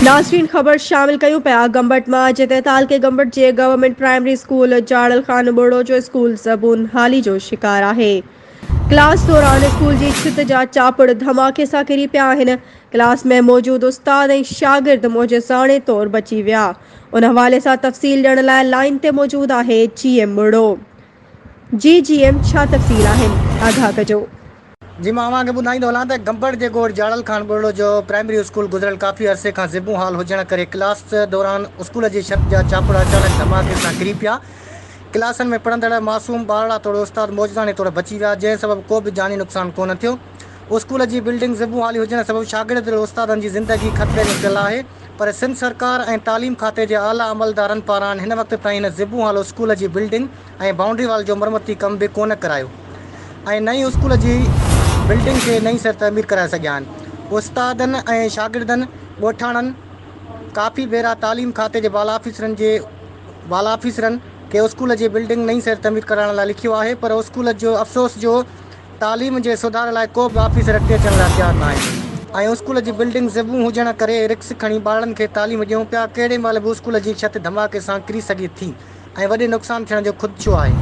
ناظرين خبر شامل ڪيون پيا گمبٽ مان اڄ تي تعلقي گمبٽ جي government primary school Jaral Khan ٻوڙو جو اسڪول زبون حالي جو شڪار آهي ڪلاس دوران اسڪول جي ڇت جا چاپڙ ڌماڪي سان ڪري پيا آهن ڪلاس ۾ موجود استاد ۽ شاگرد معجزاڻي طور بچي ويا ان حوالي سان تفصيل ڏيڻ لاء لائين تي موجود آهي جي ايم ٻوڙو جي جي ايم ڇا تفصيل آهن آگاهه ڪجو جي مان اوهان کي ٻڌائيندو هلان ته گمبڙ جي ڳوٺ جاڙل خان ٻرڙو جو پرائمري اسڪول گذريل ڪافي عرصي کان زبون حال هجڻ ڪري ڪلاس دوران اسڪول جي ڇت جا ڇاپڙ اچانڪ ڌماڪي سان ڪري پيا ڪلاسن ۾ پڙهندڙ معصوم ٻارڙا توڙي استاد معجزاڻي طور بچي ويا جنهن سبب ڪو به جاني نقصان ڪونه ٿيو اسڪول جي بلڊنگ زبون حالي هجڻ سبب شاگرد توڙي استادن جي زندگي خطري ۾ پيل آهي پر سنڌ سرڪار ۽ تعليم کاتي جي اعليٰ عملدارن پاران هن وقت تائين هن زبون حال اسڪول جي بلڊنگ ۽ بائونڊري وال جو مرمتي ڪم به ڪونه ڪرايو ۽ نه ئي اسڪول جي بلڊنگ کي نئين سر تعمير ڪرائي سگهيا آهن. استادن ۽ شاگردن ڳوٺاڻن ڪافي ڀيرا تعليم کاتي جي بالا آفيسرن جي بالا آفيسرن کي اسڪول جي بلڊنگ نئين سر تعمير ڪرائڻ لاء لکيو آهي پر اسڪول جو افسوس جو تعليم جي سڌار لاء ڪو به آفيسر اڳتي اچڻ لاء تيار ناهي ۽ اسڪول جي بلڊنگ زبون هجڻ ڪري رڪس کڻي ٻارڙن کي تعليم ڏيون پيا ڪهڙي مهل به اسڪول جي ڇت ڌماڪي سان ڪري سگهي ٿي. ۽ وڏي نقصان ٿيڻ جو خدشو آهي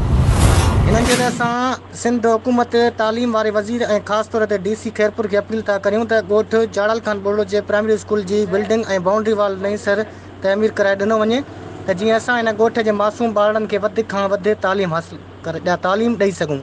هنن جي وجه سان سنڌ حڪومت تعليم واري وزير ۽ خاص طور تي ڊي سي خيرپور کي اپيل ٿا ڪريون ته ڳوٺ جاڙل خان ٻرڙو جي پرائمري اسڪول جي بلڊنگ ۽ بائونڊري وال نئين سر تعمير ڪرائي ڏنو وڃي ته جيئن اسان هن ڳوٺ جي معصوم ٻارڙن کي وڌ کان وڌ تعليم حاصل تعليم ڏئي سگهون.